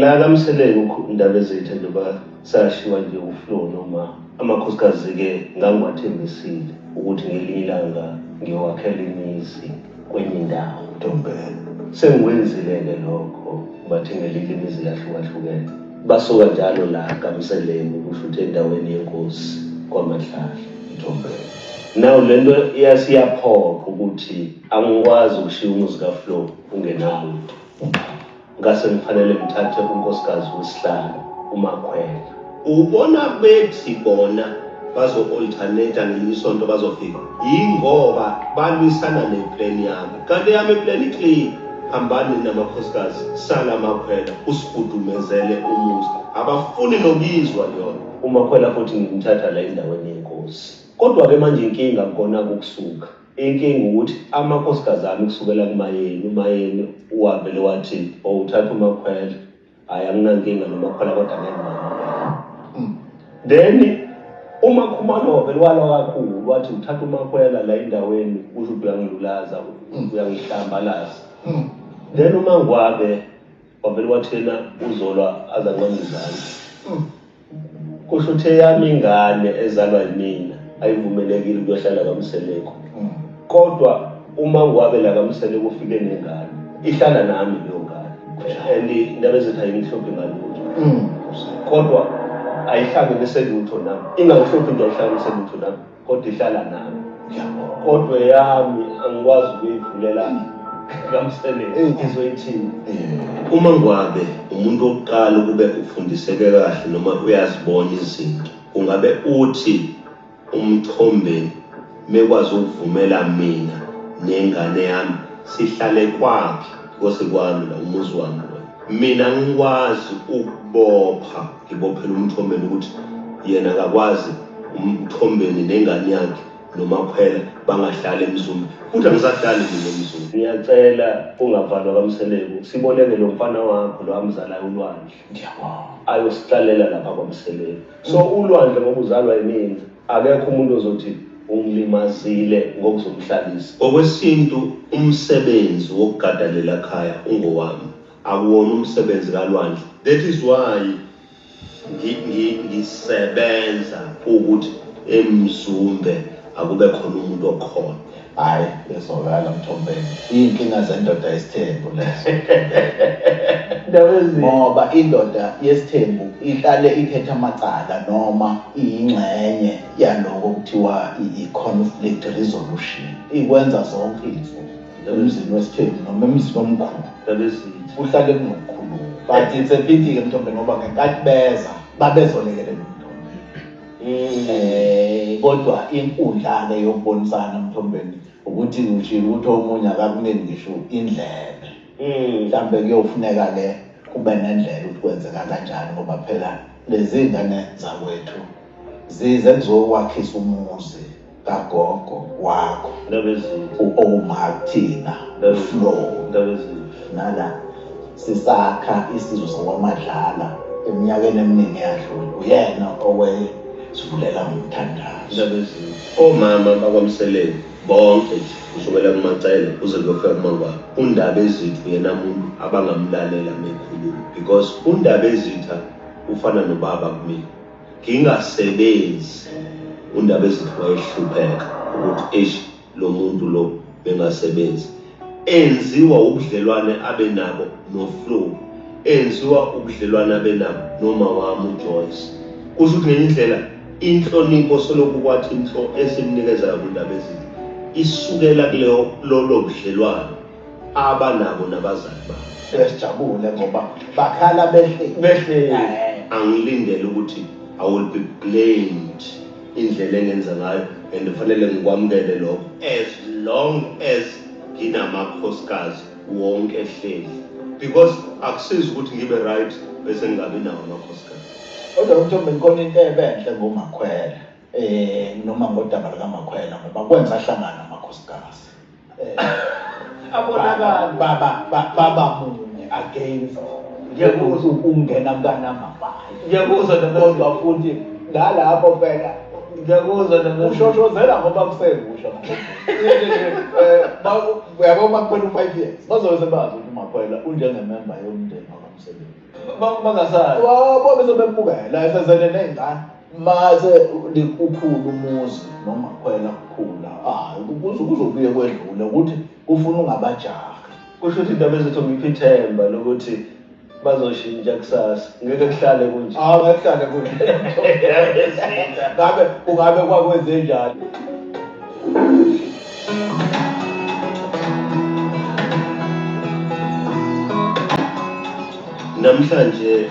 La kaMseleku ukhulu indaba ezethe njengoba sashiwa nje uFlo noma amakhosikazi-ke ngangiwathembisile ukuthi ngelinye ilanga ngiyowakhela imizi kwenye indawo. Ntombela, sengikwenzile-ke lokho ubathengele imizi yahlukahlukene. Basuka njalo la kaMseleku kusho ukuthi endaweni yenkosi kwaMadlala. Ntombela, nawu le nto iyasiyaphoqa ukuthi angikwazi ukushiya umuzi kaFlo ungenawo. Ngase ngifanele ngithathe unkosikazi wesihlalo uMakhwela. Ubona bethi bona bazo-alternate ngelinye isonto bazofika yingoba balwisana neplan yami kanti yami iplan iclean hambani namakhosikazi sala makhwela usifudumezele umuzi abafuni nokuyizwa yona umakhwela futhi ngimthatha la endaweni yenkosi kodwa-ke manje inkinga kukona kukusuka Inkinga ukuthi amakhosikazi ami kusukela kuMayeni, uMayeni wavele wathi or uthatha uMakhwela, hhayi anginankinga noMakhwela kodwa ngeke ngamukela. Then uMakhumalo wavele walwa kakhulu wathi uthatha uMakhwela la endaweni usho ukuthi uyangilulaza, uyangihlambalaza. Then uMaNgwabe wavele wathi yena uzolwa aze anqambe izandla. kusho ukuthi eyami ingane ezalwa yimina ayivumelekile ukuyohlala kamseleko mm. kodwa uma ngwabe la kamseleko ufike nengane ihlala nami leyo ngane and indaba ezithi ayingihluphi ngalutho mm. kodwa ayihlangene selutho nami ingangihluphi nje ayihlangene selutho nami kodwa ihlala nami ngiyabonga kodwa eyami angikwazi ukuyivulela kamsebenzi Eyi. ngizoyithini uma ngwabe umuntu wokuqala ukube ufundiseke kahle noma uyazibona izinto ungabe uthi umthombeni mekwazi ukuvumela mina nengane yami sihlale kwakhe kose kwami la umuzi wami lo mina ngikwazi ukubopha Ngibophela umthombeni ukuthi yena akakwazi umthombeni nengane yakhe nomakhwela bangahlali emzumbi futhi angisahlali mina emzumbi ngiyacela ungavalwa kamseleku siboneke lo mfana wakho lo amzalayo ulwandle ayosihlalela lapha kwamseleku so ulwandle ngoba uzalwa yimina akekho umuntu ozothi ungilimazile ngokuzomhlalisa ngokwesintu umsebenzi wokugadalela khaya ungowami Akuwona umsebenzi ka Lwandle. That is why ngi ngi ngisebenza ukuthi emzumbe akube khona umuntu okhona. Hayi ezwakala mthombeni. Iyinkinga zendoda yesithembu lezo. Ndaba ezi. Ngoba indoda yesithembu ihlale ithetha amacala noma iyingxenye yaloko kuthiwa i-conflict resolution. Ikwenza zonke izinsuku. emzini wesithembu noma emzini omkhulu lalezithi kuhlale kunokukhuluma but it's a pity-ke mthombe ngoba ngenkathi beza babezolekelela umthombe um kodwa inkundla-ke yokubonisana mthombeni ukuthi ushile ukuthi omunye akakunini ngisho indlebe hmm. mhlawumbe kuyofuneka le kube nendlela ukuthi kwenzeka kanjani ngoba phela lezi ngane zakwethu zize kuzokwakhisa umuzi kagogo wakho u-omartina flo nala sisakha isizwe sakwamadlala eminyakeni eminingi eyadlula uyena owesivulela ngomthandazo omama bakwamseleni bonke nje kusukela kumacele kuze kuyofika kumangwabo undaba ezithu yena muntu abangamlalela mekhuluma because undaba ezitha ufana nobaba kumina ngingasebenzi uNdabezitha wayehlupheka ukuthi eish lo muntu lo bengasebenzi enziwa ubudlelwane abe nabo noFlo enziwa ubudlelwane abe nabo noma wami uJoyce kusho ukuthi ngenye indlela inhlonipho solokhu kwathi inhlo esimnikezayo kuNdabezitha isukela kuleyo lolo budlelwane abanabo nabazali babo sesijabule ngoba bakhala behle behle angilindele ukuthi i will be blamed indlela engenza ngayo and kufanele ngikwamukele lokho as long as nginamakhosikazi wonke ehleli because akusizi ukuthi ngibe right bese ngingabi nawo amakhosikazi kodwa umthombe inkona into ebenhle ngomakhwela eh noma ngodaba lika Makhwela ngoba kwenza hlangana amakhosikazi eh abonakala baba baba munye against ngiyakuzwa ukungena mntana mabayi ngiyakuzwa nokuzwa futhi ngalapho phela ngiyakuzwa nokuzwa ushoshozela ngoba kusekusha eh yabo makuphela u5 years bazobe bazi ukuthi makhwela unjenge member yomndeni wakamsebenzi bangasazi wabo bese bembukela esezele nezingane Mase ukhulu umuzi noma kwena kukhula hayi kuze kuzobuye kwedlule ukuthi ufuna ungabajaha kusho ukuthi indaba ezithi ngiphi ithemba lokuthi bazoshintsha kusasa ngeke kuhlale kunje hawu ngeke kuhlale kunje ngabe kungabe kwakwenze njani namhlanje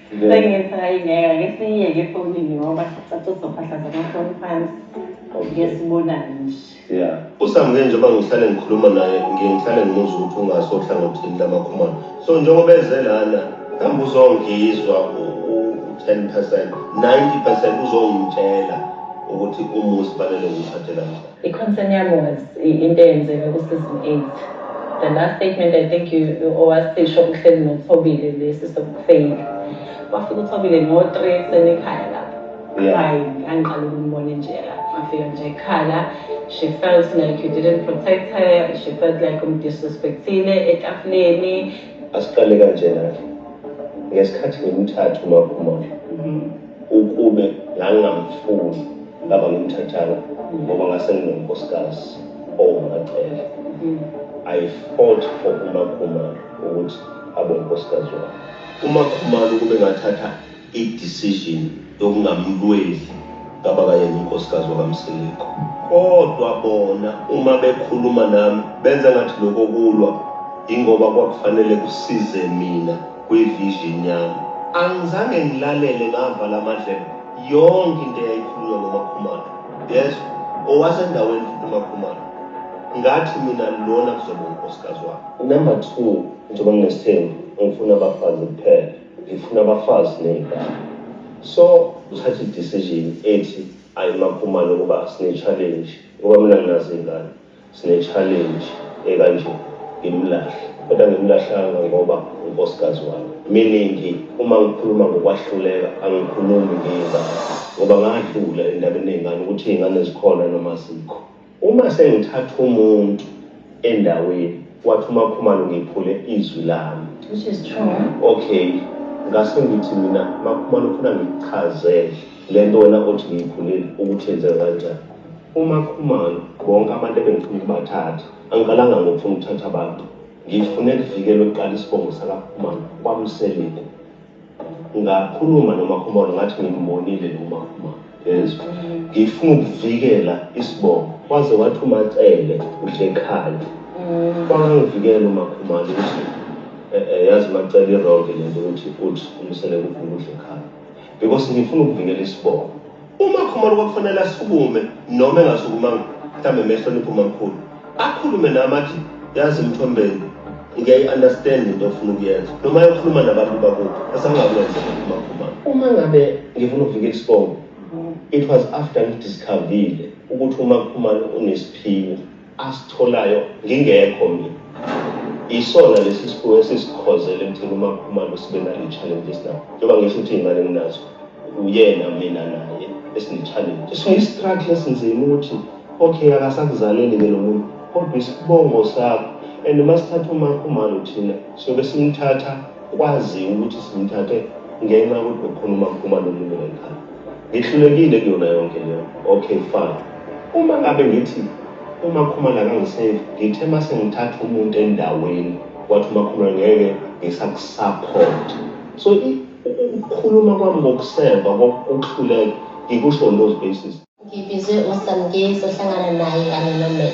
Sengithi hayi ngeke ake siyiyeke efonini ngoba sathi uzophahla zamafoni phansi ngeke sibonane nje Yeah. usamuke njengoba ngihlale ngikhuluma naye ngiye ngihlale ngimuza ukuthi ungase ohlangothini lamakhumalo so njengoba eze lana kambe uzongizwa u-ten percent ninety percent uzongitshela ukuthi umuzi fanele ngithathe kanjani I-concern yami was into eyenzeke ku-season eight the last statement i think owasisho uhleli nothobile lesi sokufeyila wafika uthobile ngo-three ekuseni ekhaya lapho hayi ngangiqala ukumbona nje afika nje ekhala she felt like you didn't protect her she felt like umdisrespectile etafuleni asiqale kanjena ngesikhathi ngimthatha umaphumolo mm-hmm. ukube ngangingamfuni ngaba ngimthathanga ngoba ngase nginonkosikazi owumacele i fought for umakhumalo ukuthi abe unkosikazi wakhe umakhumalo ukube ngathatha i-decision yokungamlweli ngaba kayena unkosikazi wakamsiliko kodwa bona uma bekhuluma nami benza ngathi lokho kulwa ingoba kwakufanele kusize mina kwivision yami angizange ngilalele ngavala amadlebe yonke into eyayikhulunywa ngomakhumalo yezwa owasendaweni futhi umakhumalo ngathi mina lona kuzobe unkosikazi wami number two njengoba nginesithembu ngifuna abafazi kuphela ngifuna abafazi ney'ngane so uthatha i-decision ethi ayimakhumalo ukuba sine-challenge ngoba mina nginazo iy'ngane Sine challenge ekanje ngimlahle kodwa ngimlahlanga ngoba unkosikazi wami. Miningi uma ngikhuluma ngokwahluleka angikhulumi ngeyingane ngoba ngadlula endabeni yeyingane ukuthi iyingane zikhona noma azikho. Uma sengithatha umuntu endaweni wathi uMakhumalo ngiphule izwi lami. Which is true. Okay ngase ngithi mina Makhumalo ufuna ngikuchazele lento wena othi ngiyiphulile ukuthi yenzeka kanjani. UMaKhumalo, Bonke abantu ebengifuna ukubathatha, angiqalanga ngokufuna ukuthatha abantu. Ngifune kuvikelwe kuqala isibongo sakaKhumalo kwaMseleku. Ngakhuluma noMaKhumalo ngathi ngimbonile lo Makhumalo. Yes. Ngifuna ukuvikela isibongo. Waze wathi uMacele usekhaya. Kwangangivikela uMakhumalo ukuthi eh, eh, yazi uMacele ironke lento ukuthi uthi uMseleku ufuna ukudla ekhaya. Because ngifuna ukuvikela isibongo. Uma Khumalo kwakufanele asukume noma engasukumanga mhlawumbe mehlonipha umamkhulu akhulume nami athi yazi mthombeni ngiyayi-understand into ofuna ukuyenza noma yokhuluma nabantu bakuthi esangakwenza umakhumalo uma ngabe ngifuna ukuvika isibongo it was after ngidiscovile ukuthi umakhumalo unesiphiwo asitholayo ngingekho mina isona lesi sifuwo esisikhozela ekutheni uma khumalo sibe nale challenge esinayo njengoba ngisho ukuthi iy'ngane nginazo uyena mina naye esine-challenge sine-struggle esinzima ukuthi okay akasakuzaleli ke lo muntu kodwa isibongo sakho and uma sithatha umakhumalo thina siyobe simthatha kwaziwa ukuthi simthathe ngenxa yokuthi bekhona umakhumalo olimi lwekhaya Ngihlulekile kuyona yonke leyo. Okay fine. Uma ngabe ngithi uMakhumalo akangisave, ngithe uma sengithatha umuntu endaweni, wathi uMakhumalo ngeke ngisakusupport. So i- u- u- ukukhuluma kwami ngokuseva, kokuhluleka, ngikusho on those basis. Ngibizwe uSamngezi ohlangana naye kanye noMax.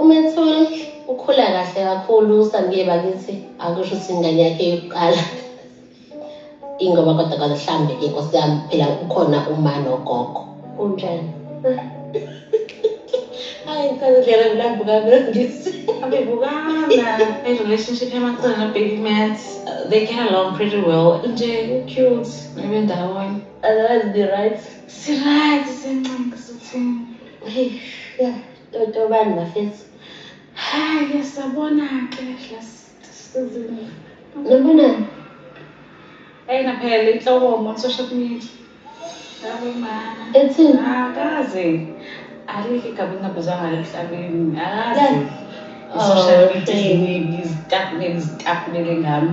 umethule ukhula kahle kakhulu usambiye bakithi akusho ukuthi ingane yakhe yokuqala ingoba kodwa kwaze hlambe ke nkosi yami phela ukhona uma nogogo unjani hayi ngisazidlela mlambo kamangisi abebukana and relationship yamacala nobig mat they get along pretty well nje u-cute maybe ndawonye otherwise be right Siryt sencinci sithini. Hey, yeah, totobani bafethu. Hayi sabona ke hlasizinto. Nibona? Ayina phela inhloko on social media. Yabo mama. Ethini? Akaze. Alike gabi ngabizwa ngalo emhlabeni. Akaze. Social media izinto izinto izinto ngami.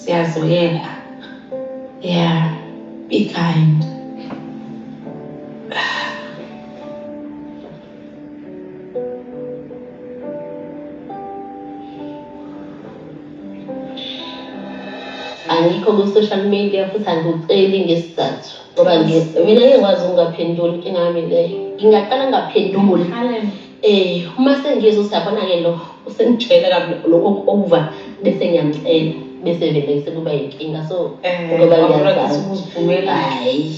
siyazoyeka yeah be kind angikho ku-social media futhi angikuceli ngesizathu ngoba mina ngiyekwazi ukungaphenduli inkinga yami leyo ngingaqala ngingaphenduli Eh uma sengizwe usiyabona ke lo usengitshela kabi lokho over bese ngiyamcela bese vele sekuba yinkinga so Eh, ngoba wabona ukuthi ngiyazazi. ukuzivumela. Hayi.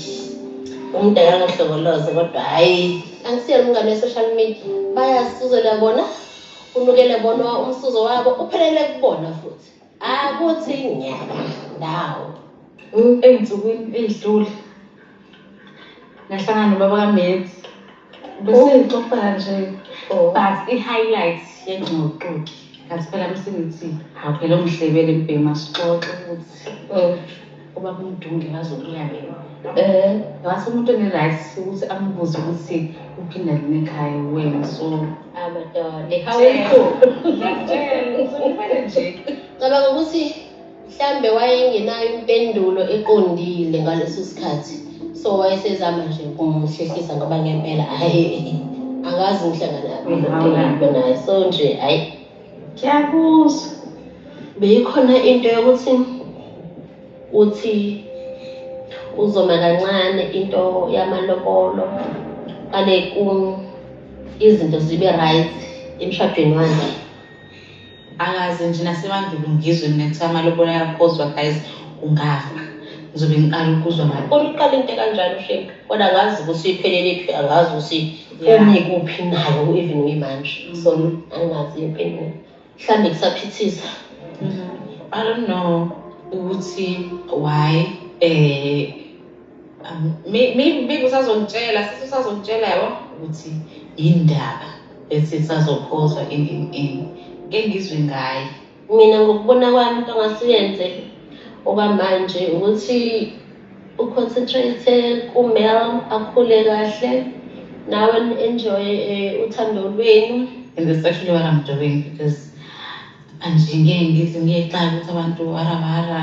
Umuntu akangahlokoloze kodwa hayi. Angisiyena umngane we-social media. Bayasizela bona unukele bona umsuzo wabo uphelele kubona futhi. Akuthi nyaka ndawo. Ey'nsukwini ey'dlule ngahlangana nobaba kaMenzi Besiyixoxa nje oh. but i-highlight yengxoxo kathi phela msingithi awuphela umhlebele mbhema sixoxe ukuthi oh. uba kumdunge bazokuyake eh ngathi umuntu oneright ukuthi ambuze ukuthi uphinda lini ekhaya wena so abadala how are you ngicela ukuthi nje cabanga ukuthi Mhlambe wayengenayo impendulo eqondile ngaleso sikhathi. So wayesezama nje ukumhlehlisa ngoba ngempela hayi angazi ngihlangana kulento naye. So nje hayi kuyakuzwa. Beyikhona into yokuthi uthi uzoma kancane into yamalobolo kale izinto zibe right emshadweni wakhe Angazi nje nasemandulo ngizwe mina kuthiwa amalobola ayakhozwa guys ungafa ngizobe ngiqala ukuzwa ngayo kodwa uqale into kanjalo shame kodwa akazi ukuthi iphelele phi akazi ukuthi umi kuphi nayo even uyimanje so angazi impendulo mhlawumbe kusaphithisa i don't know ukuthi why um maybe usazongitshela sisi usazongitshela yabo ukuthi indaba ethi sazophozwa ending in engizwe ngayo mina ngokubona kwami into ngasiyenze oba manje ukuthi uconcentrate kumel akhule kahle nawe enjoy eh, uthando lwenu and that's actually what i'm doing because manje ngeke ngize ngiyexaka ukuthi abantu warabara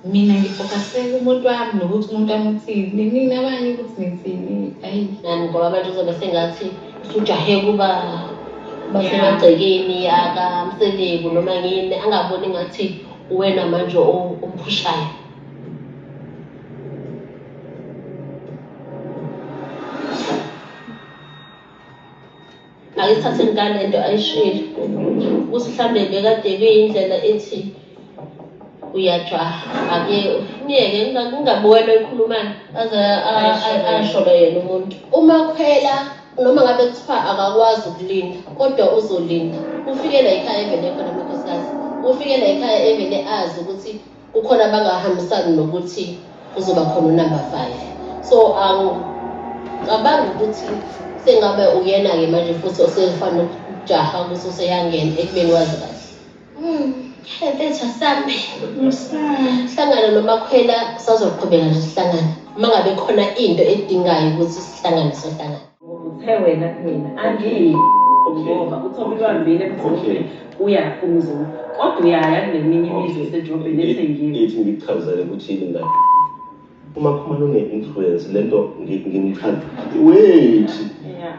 Mina ngifokase kumuntu wami nokuthi umuntu amuthini nini abanye ukuthi nithini ayi nani ngoba abantu uzobe sengathi usujahe kuba basemagcekeni akamseleku noma ngini angaboni ngathi uwena manje omphushayo Ayithathe ngane into ayishilo ukuthi mhlambe bekade kuyindlela ethi uyajaha ake myeke kungabuwela ekhulumana aze asholo yena umuntu uma khwela noma ngabe kuthiwa akakwazi ukulinda kodwa uzolinda ufike la ekhaya evele khona amakhosikazi ufike la ekhaya evele azi ukuthi kukhona abangahambisani nokuthi kuzoba khona unumber five so angicabangi um, ukuthi sengabe uyena-ke manje futhi osefana ukujaha ukuthi useyangena ekubeni wazi kahle hmm, ebetha sami hlangana nomakhwela sazoqhubeka nje sihlangane uma ngabe khona into edingayo ukuthi sihlangane sohlangane Uthe wena kumina angiyi ngoba uthi obulwambile mzukulu uya kumzulu kodwa uyaya kuleminye imizwe esedrobheni ethengiwe ithi ngikuchazele ukuthi yini ngayo uma khumana une-influence le nto ngimchaza wait yeah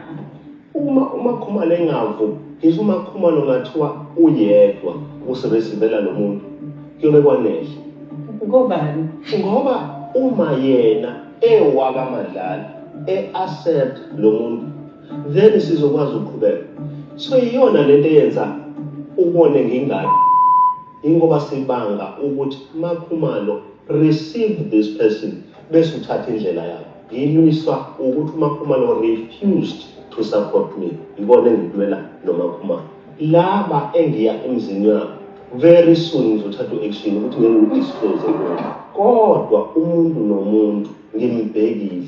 uma umakhumalo engavu ngisho umakhumalo ngathiwa uyedwa usebesivela lo muntu kuyobe kwanele ngobani ngoba uma yena ewaka madlala e accept lo muntu then sizokwazi ukuqhubeka so iyona lento eyenza ubone ngingane ingoba sibanga ukuthi makhumalo receive this person bese uthatha indlela yakho ngilwiswa ukuthi umakhumalo refused to support me yikona engikulwela nomakhumalo Laba engiya emzini yabo very soon ngizothatha u-action ukuthi ngeke ngidisclose lokho. Kodwa umuntu nomuntu ngimbhekile.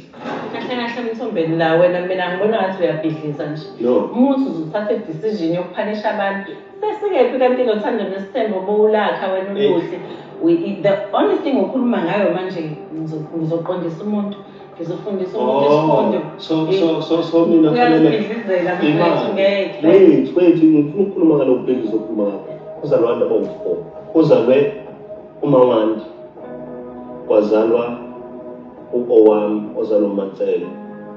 Kahle kahle emthombeni la wena mina ngibona ngathi uyabhidliza nje. No. Umuntu uzothatha i-decision yokuphanisha abantu. Sesikephi kanti nothando nesithembo bowulakha wena uluhle. We- The only thing okhuluma ngayo manje ngizo- ngizoqondisa umuntu. ngizofundisa umuntu isifundo so so so so mina fanele uyazibhidlizela mfethu imali ngeke wethu wethu ngifuna ukukhuluma ngalokhu bengizokhuluma ngakho kuzalwa abantu abawumfo kuzalwe umawandi kwazalwa u-owami ozalwa umancele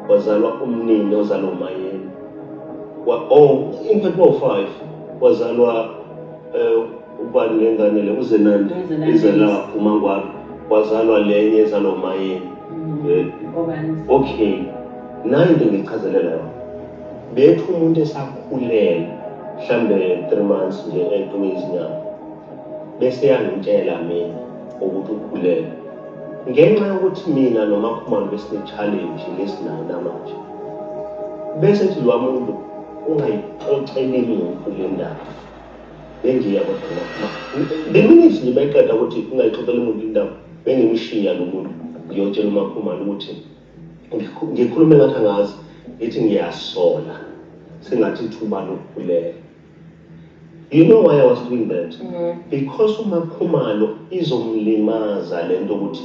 kwazalwa umnini ozalwa umayeni wa oh in fact bowu-five kwazalwa um Ubani ngengane le uzenande izela umangwabi kwazalwa lenye ezalwa umayeni eh, okay nayo into engichazelela yona bethi umuntu esakhulele mhlambe three months nje etume izinyama bese yangitshela mina ukuthi ukhulele ngenxa yokuthi mina nomakhumalo besine-challenge lesinayo namanje bese thi lwa muntu ungayixoxeli muntu le ndaba Bengiya kodwa ngoba bengithi nje mayiqeda ukuthi ungayixoxela umuntu indaba bengimshiya lo muntu ngiyotshela uMakhumalo ukuthi ngikhu- ngikhulume ngathi angazi ngithi ngiyasola sengathi ithuba lokukhuleka. You know why I was doing that? Because uMakhumalo izomlimaza lento ukuthi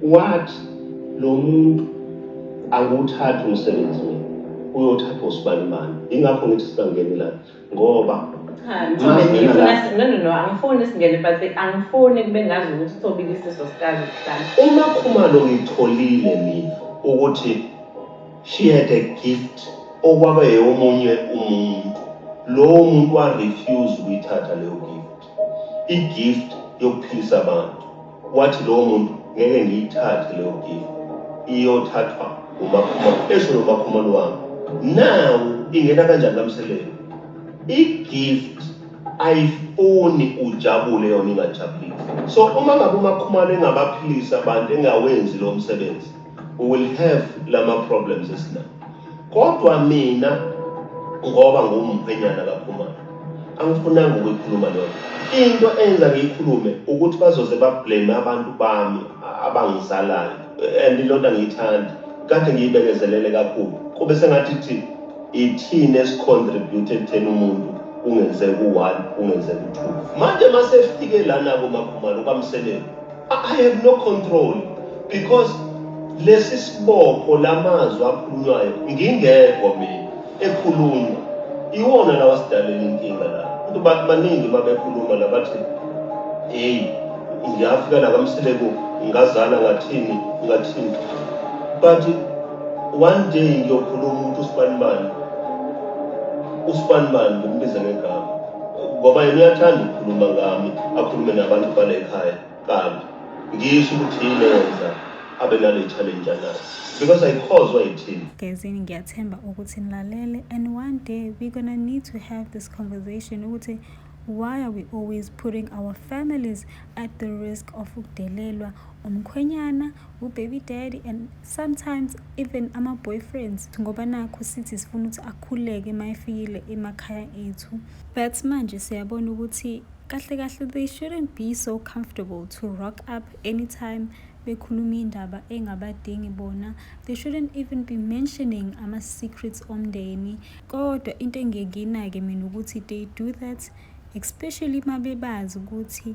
What? Lomuntu angiwuthathi umsebenzi mina. Uyothathwa usibani bani. Ingakho ngithi singangeni la ngoba Cha, Mthobe ngifuna si- no no no angifuni singene but angifuni kube ngazi ukuthi uthobile isiso sikazi sihlala. Uma Khumalo ngitholile mina ukuthi she had a gift okwaba eyomunye umuntu. Lowo muntu wa refuse ukuyithatha leyo gift. igift yokuphilisa abantu wathi lowo muntu ngeke ngiyithathe leyo gift iyothathwa umakhumalo esho nomakhumalo wami nawu ingena kanjani kamseleni igift ayifuni ujabule yona ingajabulile so uma ngabe umakhumalo engabaphilisa abantu engawenzi lo msebenzi we will have lama problems esinawo Kodwa mina ngoba ngumkhwenyana kaKhumalo angifunanga ukuyikhuluma leyo into enza ngiyikhulume ukuthi bazoze bablame abantu bami abangizalayo and iloo nto angiyithandi kade ngiyibekezelele kakhulu kube sengathi thi ithini esicontribute ekutheni umuntu kungenzeka u-one kungenzeka u-two manje masefike lana komakhumalo kwamseleni I have no control because lesi sibopho lamazwi akhulunywayo ngingekho mina ekhulunywa iwona lawa sidalela inkinga la abantu bathi baningi babekhuluma la bathi hey ngiyafika la kamseleku ngazana ngathini ngathini but one day ngiyokhuluma umuntu usibanibani usibanibani ngimbiza ngegama ngoba yena uyathanda ukukhuluma ngami akhulume nabantu bale khaya kambi ngisho ukuthi yini yenza abe nale challenge anayo because ayikhozwa yithini gezini ngiyathemba ukuthi nilalele and one day we're gonna need to have this conversation ukuthi why are we always putting our families at the risk of ukudelelwa umkhwenyana ubaby daddy and sometimes even ama-boyfriends ngoba nakho sithi sifuna ukuthi akhuleke uma efikile emakhaya ethu but manje siyabona ukuthi kahle kahle they shouldn't be so comfortable to rock up anytime bekhuluma indaba engabadingi bona they shouldn't even be mentioning ama-secrets omndeni kodwa into engiyekina-ke mina ukuthi they do that especially uma bebazi ukuthi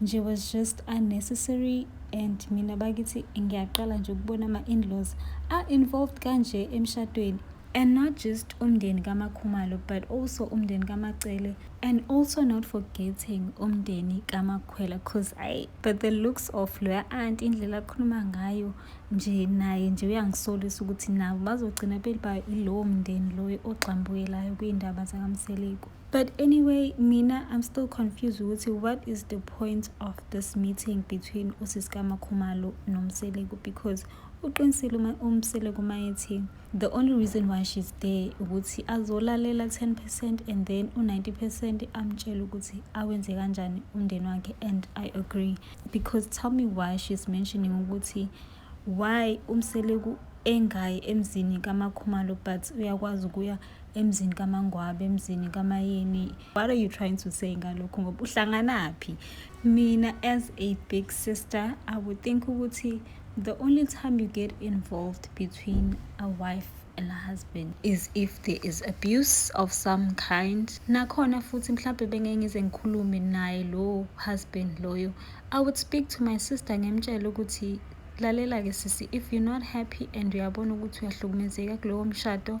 nje was just unnecessary and mina bakithi ngiyaqala nje ukubona ama-inlaws a-involved kanje emshadweni and not just umndeni kamakhumalo but also umndeni kamacele and also not forgetting umndeni kamakhwela cause i but the looks of loya aunt indlela akhuluma ngayo nje naye nje uyangisolisa ukuthi nabo bazogcina belibayo ilowo mndeni loyo ogxambukelayo kuyindaba zakamseleku But anyway, mina I'm still confused ukuthi what is the point of this meeting between uSiska Makhumalo noMseleku because uqinisile uma uMseleku uma ethi the only reason why she's there ukuthi azolalela 10% and then u90% amtshela ukuthi awenze kanjani umndeni wakhe and I agree because tell me why she's mentioning ukuthi why uMseleku engayi emzini kaMakhumalo but uyakwazi ukuya emzini kamangwabe emzini kamayeni what are you trying to say ngalokhu ngoba uhlanganaphi mina as a big sister i would think ukuthi the only time you get involved between a wife and a husband is if there is abuse of some kind nakhona futhi mhlawumbe bengeke ngize ngikhulume naye lo husband loyo i would speak to my sister ngimtshele ukuthi lalela-ke sisi if you're not happy and uyabona ukuthi uyahlukumezeka kulowo mshado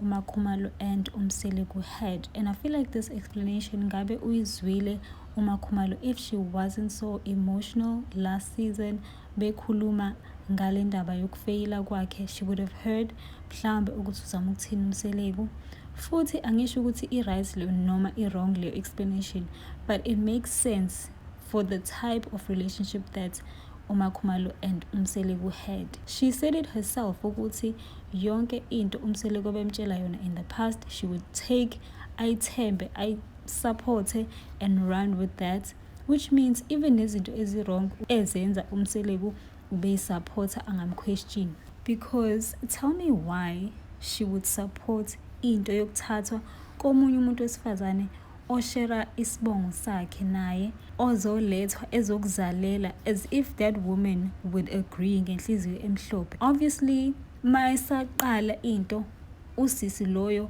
uMakhumalo and uMseleku had and I feel like this explanation ngabe uyizwile uMakhumalo if she wasn't so emotional last season bekhuluma ngale ndaba yokufeyila kwakhe she would have heard mhlawumbe ukuthi uzama ukuthini uMseleku futhi angisho ukuthi i-right leyo noma i-wrong leyo explanation but it makes sense for the type of relationship that uMakhumalo and uMseleku had she said it herself ukuthi yonke into umseleku abemtshela yona in the past she would take ayithembe ayisupporte and run with that which means even nezinto ezi-wrong ezenza umseleku ubeyisupporta angamquestion because tell me why she would support into yokuthathwa komunye umuntu wesifazane oshera isibongo sakhe naye ozolethwa ezokuzalela as if that woman would agree ngenhliziyo emhlophe obviously uma esaqala into usisi loyo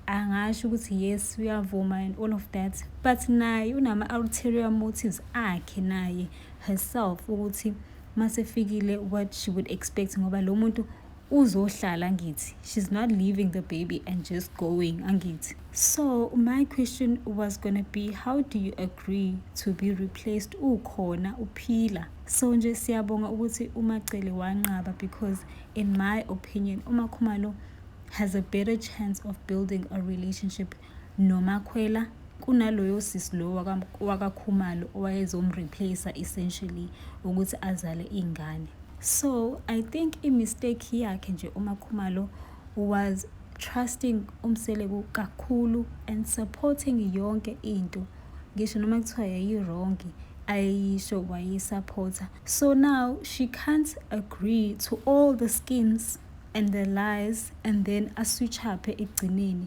angasho ukuthi yes uyavuma and all of that but naye unama-ulterior motives akhe naye herself ukuthi masefikile what she would expect ngoba lo muntu uzohlala angithi she's not leaving the baby and just going angithi so my question was gonna be how do you agree to be replaced ukhona uphila so nje siyabonga ukuthi umacele wanqaba because in my opinion umakhumalo has a better chance of building a relationship noMakhwela kunaloyo sisi lo wakaKhumalo owayezomreplace essentially ukuthi azale iy'ngane. So I think i-mistake yakhe nje uMaKhumalo was trusting uMseleku kakhulu and supporting yonke into ngisho noma kuthiwa yayirongi ayeyisho wayisupporter so now she can't agree to all the schemes and the lies and then aswitchaphe ekugcineni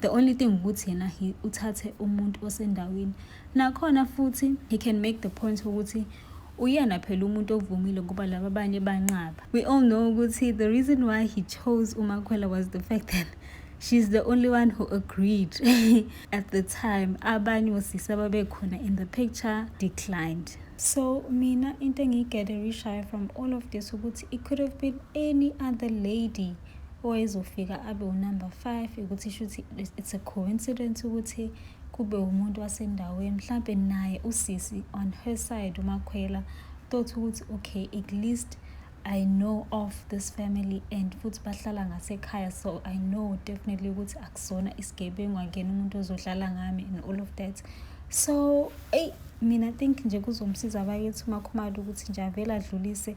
The only thing ukuthi yena he uthathe umuntu osendaweni. Nakhona futhi he can make the point ukuthi uyena phela umuntu ovumile ngoba laba abanye banqaba. We all know ukuthi the reason why he chose uMakhwela was the fact that she's the only one who agreed at the time abanye osisi ababekhona in the picture declined so mina into engiyigatherishayo from all of this ukuthi it could have been any other lady owayezofika abe unumber five ukuthi shuthi it's a coincidence ukuthi kube umuntu wasendaweni mhlampe naye usisi on her side umakhwela thought ukuthi okay at least I know of this family and futhi bahlala ngasekhaya so I know definitely ukuthi akusona isigebengu angena umuntu ozodlala ngami and all of that so eyi mina think nje kuzomsiza bakithi umakhumalo ukuthi nje avele adlulise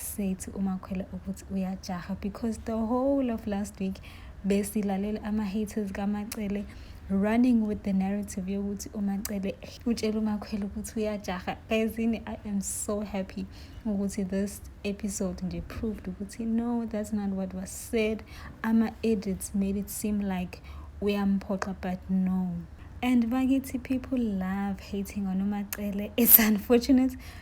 sethi umakhwela ukuthi uyajaha because the whole of last week besilalela ama-haters kamacele running with the narrative yokuthi umacele utshela umakhwela ukuthi uyajaha ezini i am so happy ukuthi this episode nje proved ukuthi no that's not what was said ama-edits made it seem like uyamphoxa but no and bakithi people love hating on umacele it's unfortunate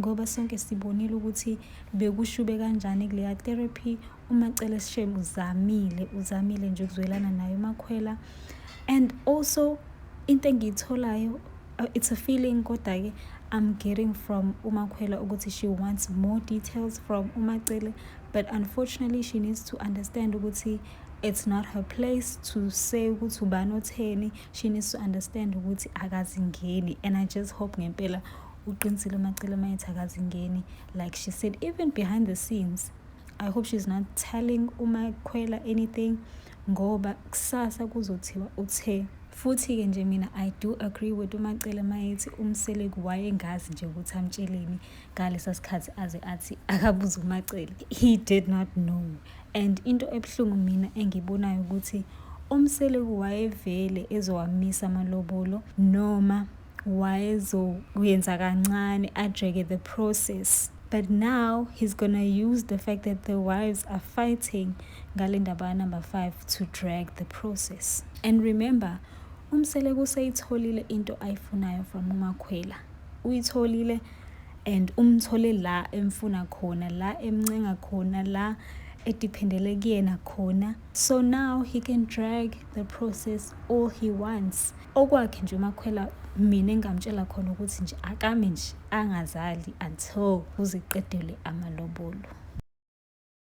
ngoba sonke sibonile ukuthi bekushube kanjani kuleya therapy umacele shem uzamile uzamile nje ukuzwelana naye umakhwela and also into engiyitholayo uh, it's a feeling kodwa-ke i'm getting from umakhwela ukuthi she wants more details from umacele but unfortunately she needs to understand ukuthi it's not her place to say ukuthi ubani otheni she needs to understand ukuthi akazingeni and i just hope ngempela uqinisile umacele mayethi akazingeni like she said even behind the scenes i hope she's not telling umakhwela anything ngoba kusasa kuzothiwa uthe futhi-ke nje mina i do agree with umacele mayethi umseleku wayengazi nje ukuthi amtsheleni ngalesa sikhathi aze athi akabuze umacele he did not know and into ebuhlungu mina engibonayo ukuthi umseleku wayevele ezowamisa amalobolo noma wayezokuyenza kancane ajeke the process but now he's gonna use the fact that the wives are fighting ngale ndaba kanumber five to drag the process and remember umseleku useyitholile into ayifunayo from umakhwela uyitholile and umthole la emfuna khona la emncenga khona la edependele kuyena khona so now he can drag the process all he wants Okwakhe nje uMakhwela mina engamtshela khona ukuthi nje akame nje angazali until kuze kuqedelwe amalobolo.